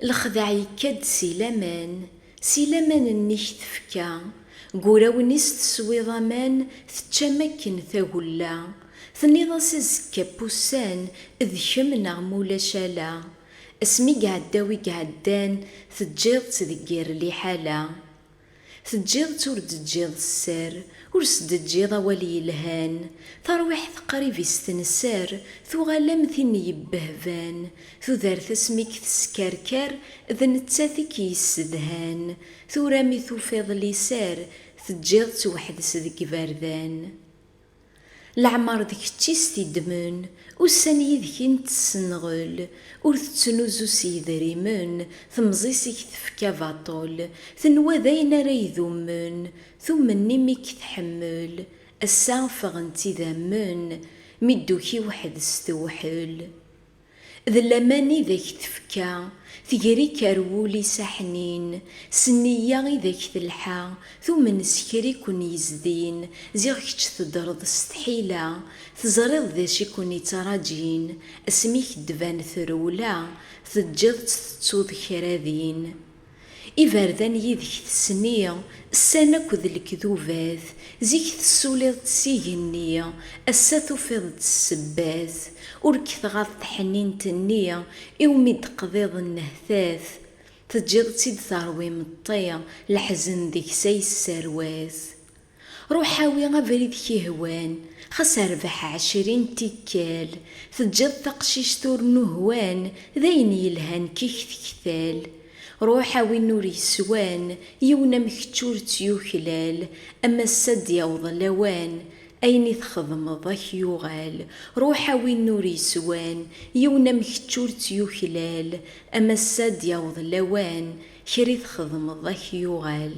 Lexdeɛ yekka-d si laman, si laman nnek tefka, deg urawen-is teswiḍ aman, teččam akken tagella, tenniḍ-as azekka pussan d kemm neɣ ma ulac ala, asmi iɛedda wi iɛeddan teǧǧiḍ-tt deg yir liḥala. Teǧǧiḍ-tt ur d-teǧǧiḍ sser, ur s-d-teǧǧiḍ awal yelhan, tarwiḥt qrib i s-tenser, tuɣal am tin yebbehban, tudert asmi i k-teskerker, d nettat i k-yessedhan, tura mi tufiḍ liser, teǧǧiḍ-tt weḥd-s deg iberdan. Leɛmer d kečč i s-t-iddmen, ussan yid-k i nettenɣel, ur tettnuzu s yedrimen, temẓi-s i k-tefka baṭel, tenwa d ayen ara idummen, tummen imi i k-tḥemmel, ass-a ffɣent idammen, mi d-tuki weḥd-s tewḥel. D laman i d ak-tefka tegri-k ar wul-is aḥnin, s nniya i d ak-telḥa, tumen s kra i ken-yezdin, ziɣ kečč teddreḍ s tḥila, teẓriḍ d acu i ken-ittrajin, asmi i k-d-tban trewla, teǧǧiḍ-tt tettuḍ kra din. Iberdan yidek tesni, ssan akked lekdubat, zik tessuliḍ-d s igenni, ass-a tufiḍ-d ssebbat, ur k-tɣaḍ tḥenint-nni, iwmi d-teqḍiḍ nnehtat, teǧǧiḍ-tt-id terwi imeṭṭi, leḥzen deg-s a yesserwat. Ruḥ awi abrid k-ihwan, xas rbeḥ ɛecrin n tikkal, teǧǧiḍ taqcict ur nuhwan, d ayen yelhan kik tektal. Ruḥ a win ur yeswan, yiwen am kečč ur tt-yuklal, a massa d-yaweḍ lawan, ayen i txedmeḍ a k-yuɣal. Ruḥ a win ur yeswan, yiwen am kečč ur tt-yuklal, a massa d-yaweḍ lawan, kra i txedmeḍ a k-yuɣal.